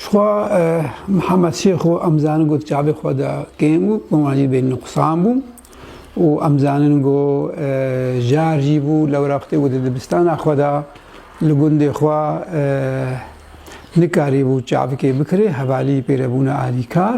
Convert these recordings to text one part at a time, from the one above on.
Şixwa Mihemed Şêxo em zanin got çavê xwe de kêm bû, wan jî bê nuqsan bû û em zanin go jar jî bû lewra xwedê got dibistana xwe de li gundê xwe nikarî bû çavkê bikirê hevalî pêre bûne alîkar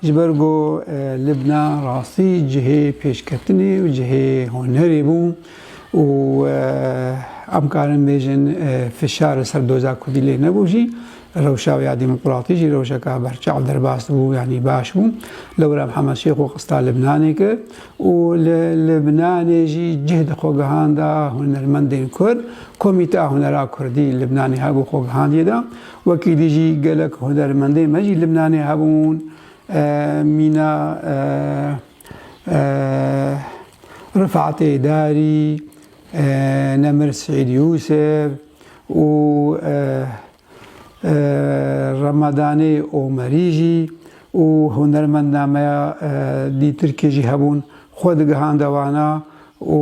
Ji ber ku Libna rastî cihê pêşketinê û cihê hunerê bû û em karin bêjin fişar li ser doza Kurdî lê nebû jî, rewşa wê ya demokratî jî rewşeka berçav derbas bû yanî baş bû. Lewra Mihemed Şêx xwe xista Libnanê kir û li Libnanê jî cih di xwe gihanda hunermendên Kurd, Komîteya Hunera Kurdî Libnanê hebû xwe gihandîye da Wekî dî jî gelek hunermendên me jî Libnanê hebûn, mîna Rifatê Darî, Nemir Seîd Yûsef û Remadanê Omerî jî û hunermenda me ya dî Tirkê jî hebûn, xwe digihandiye wana û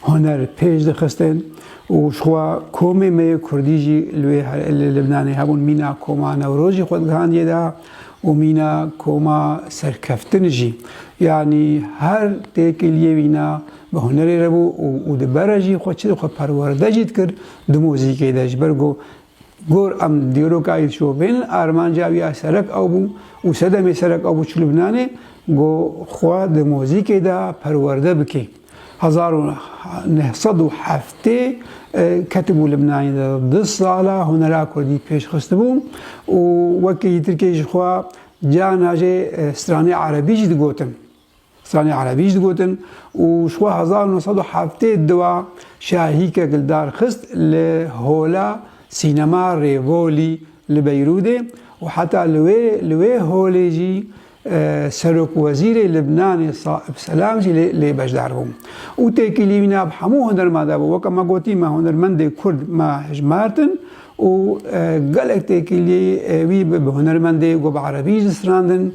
huner pêş dixistin û ji xwe komê me yê Kurdî jî li wê li Libnanê hebûn. Mîna koma Newroz jî xwe digihandiye da û mîna koma serkeftin jî. Yanî her têkiliyê mîna bi hunerê re bû û di bere jî xwe çi dixwe perwerde jî dikir di muzîkê de ji ber ku Gor em dîroka yê çovên armanca wî ya serek ew bû û sedemê serek ew bû çi Lubnanê got xwe di mozîkê de perwerde bike. Hezar û neh sed û heftê ketibû Lubnanê de du sala hunera kurdî pêş xistibû û wekî Tirkiyeyê ji xwe carna jê stranê erebî jî digotin. Sanî Erebî jî digotin û ji xwe hezar û neh sed û heftê diwa şahîkek li dar xist li Hola Sînema Rêvolî li Beyrûdê û heta li wê li wê holê jî Serokwezîrê Libnanê Saib Selam jî lê lê beşdar bû û têkilî wî nav hemû hunerman de bû. Weke me gotî me hunermendê kurd me hijmartin û gelek têkilî wî bi hunermendê got bi Erebî jî distirandin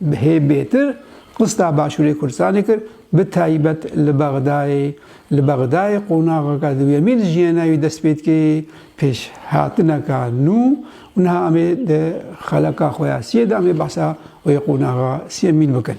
Bi hê bêtir Rista Başûrê Kurdistanê kir, bi taybet li Bexdayê. Li Bexdayê qonaxeke duyemîn li jiyana wî dest pê dike yê pêşhatineke nû û niha em ê di xeleka xwe ya siyê de em ê behsa wê qonaxa siyemîn bikin.